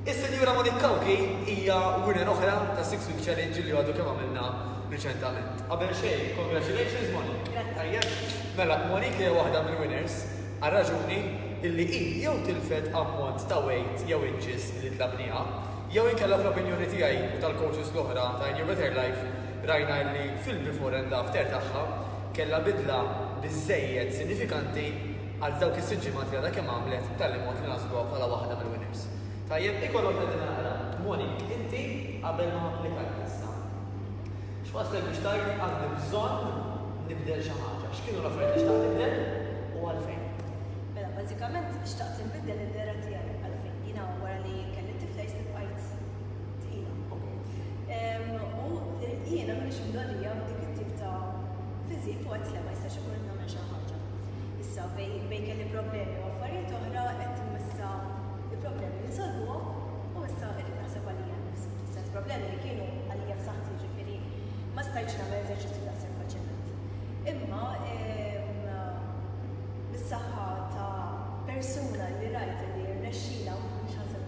Is-Sinjura Monique Kawki hija winner oħra ta' Six Week Challenge li għadu kemm għamilna reċentament. Qabel xejn, congratulations Monique. Tajja, mela Monique hija waħda mill-winners għal raġuni illi hi jew tilfet ammont ta' weight jew inches li tlabniha, jew inkella fl-opinjoni tiegħi u tal-coaches l-oħra ta' New Better Life rajna illi fil-before and after tagħha kellha bidla biżżejjed sinifikanti għal dawk is-sitt ġimgħat li għadha kemm għamlet b'tali mod li naħsbuha bħala waħda mill-winners. Tajjeb, iva noqgħod qegħdi naqra. Monique, inti qabel ma applikajt issa. X'wasslek biex tgħid għandi bżonn nibdel xi ħaġa? X'kienu l-affarijiet li xtaqt tibdel u għalfejn? Mela, bażikament xtaqt inbiddel id-dehra tiegħi. Għalfejn? Jiena wara li kelli t-tifla jisni bqajt tqila. U jiena m'iniex imdorrija b'dik it-tip ta' fiżik u għedt le ma jistax ikun qed nagħmel xi ħaġa. Issa bejn kelli problemi u affarijiet oħra qed issa il-problemi ninsolvuhom u issa qed naħseb għalija nnifsi. Sens problemi li kienu għalija f'saħħti ġifieri ma stajtx nagħmel eżerċizzju ta' sew faċilment. Imma bis-saħħa ta' persuna li rajt li rnexxilha mhux ħansab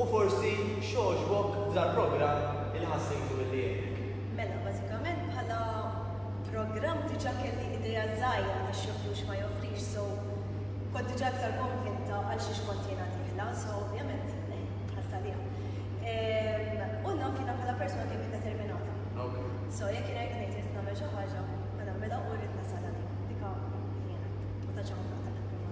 U forsi x'għoġbok f'dal-programm li ħassejtu li għenek? Mela, bażikament bħala programm diġà kelli idea żgħira ta' x'joffri u x'ma joffrix, so kont diġà iktar konvinta għal xiex kont jiena dieħla, so ovvjament eh, tħass għaliha. Ehm, u naf jiena bħala persuna kemm determinata. Okay. So jekk jiena jrid ngħid nagħmel xi ħaġa, ma nagħmilha u rrid nasal għaliha. Dika jiena, ma tantx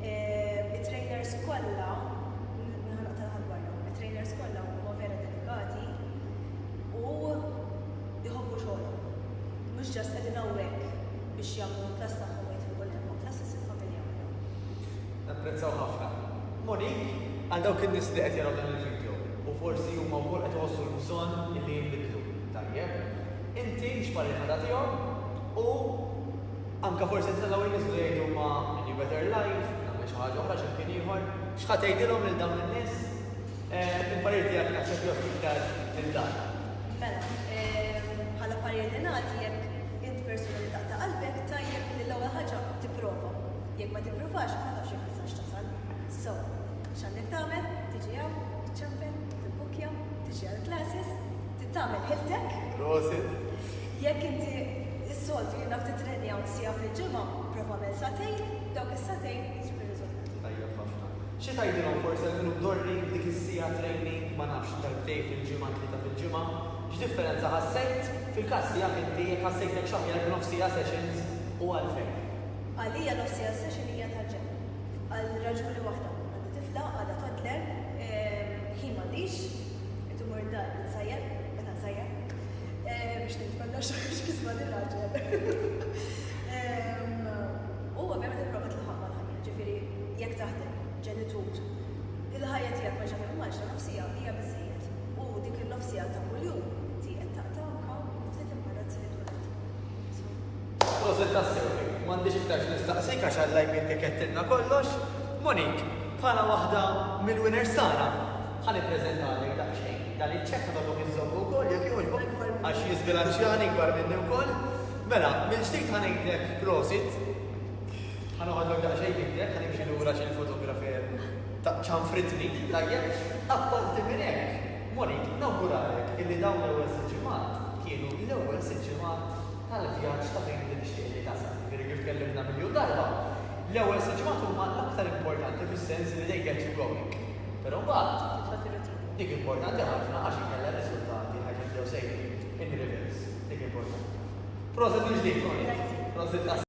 It-trainers kollha, nħanaq tal-ħadwarja, it-trainers kollha huma vera dedikati u jħobbu xogħolhom. Mhux ġast qegħdin hawnhekk biex jagħmlu l-klass tagħhom jitlu kulħadd ma' klass isir familja waħda. Napprezzaw ħafna. Monique, għal dawk in-nies li qed jaraw dan il-video u forsi huma wkoll qed iħossu l-bżonn li jinbidlu, tajjeb, inti x'pariri ħadatihom u Anke forsi ntelgħu jinżlu jgħidu ma' A New Better Life, nagħmel xi ħaġa oħra x'imkien ieħor. X'ħa tgħidilhom lil dawn in-nies? Il-parir tiegħek naf se jgħodd iktar minn dan. Mela, bħala parir li nagħti jekk int persuna li taqta' qalbek, tajjeb li l-ewwel ħaġa tipprova. Jekk ma tippruvax, ma tafx jekk tistax tasal. So, x'għandek tagħmel? Tiġi hawn, iċċempel, tibbukkja, tiġi għall-classes, titgħamel ħiltek. Prosit. Jekk inti issoltu jien naf tittrenja siegħa fil-ġimgħa, prova għamel sagħtejn, dawk is-sagħtejn ġib ir-riżultati. Tajjeb ħafna. Xi tgħidilhom forsi għal min hu mdorri b'dik is-siegħa training ma nafx darbtejn fil-ġimgħa, tlieta fil-ġimgħa, x'differenza ħassejt? Fil-każ tiegħek inti jekk ħassejthekx aħjar b'nofs siegħa sessions u għalfejn? Għalija nofs siegħa session hija tal-ġenn. Għal raġuni waħda, għandi tifla għadha toddler, ħin m'għandix, irid immur id-dar insajjar, biex nitmella xaħx kisma li raġel. U ovvjament il-prova tlaħaq mal-ħajja, ġifiri, jek taħdem, ġenitur, il-ħajja tijak ma ġafem maġra nofsija bija bizzijiet. U dik il-nofsija ta' kuljum, ti qed taqta' anka ftit immarrat se jitweled. Proset ta' sewi, m'għandix iktar nistaqsik għax għallaj minn kollox. Monik, bħala waħda mill-winners tagħna, Ħa nippreżentalek daqsxejn dan iċ-ċekk u nitolbok iżżommu wkoll jekk jogħġbok għax jiżbilanċjani kbar minni wkoll. Mela, mill-ġdid ħa ngħidlek prosit. Ħa noħodlok daqsxejn b'idek, ħa nimxi lura għax il-fotografer ċanfritni. Tajjeb, apparti minn hekk, morrid nawguralek illi dawn l-ewwel sitt ġimgħat kienu l-ewwel sitt ġimgħat tal-vjaġġ ta' fejn inti tixtieq li tasal. Jiġifieri kif tkellimna miljun darba, l-ewwel sitt ġimgħat huma l-aktar importanti fis-sens li they get you going. Però mbagħad titla' tielet ħin. Dik importanti ħafna għax inkella r-riżultati ħa jibdew sejrin in reverse. Dik importanti ħafna. Proset mill-ġdid, Ronit. Prosit tassew.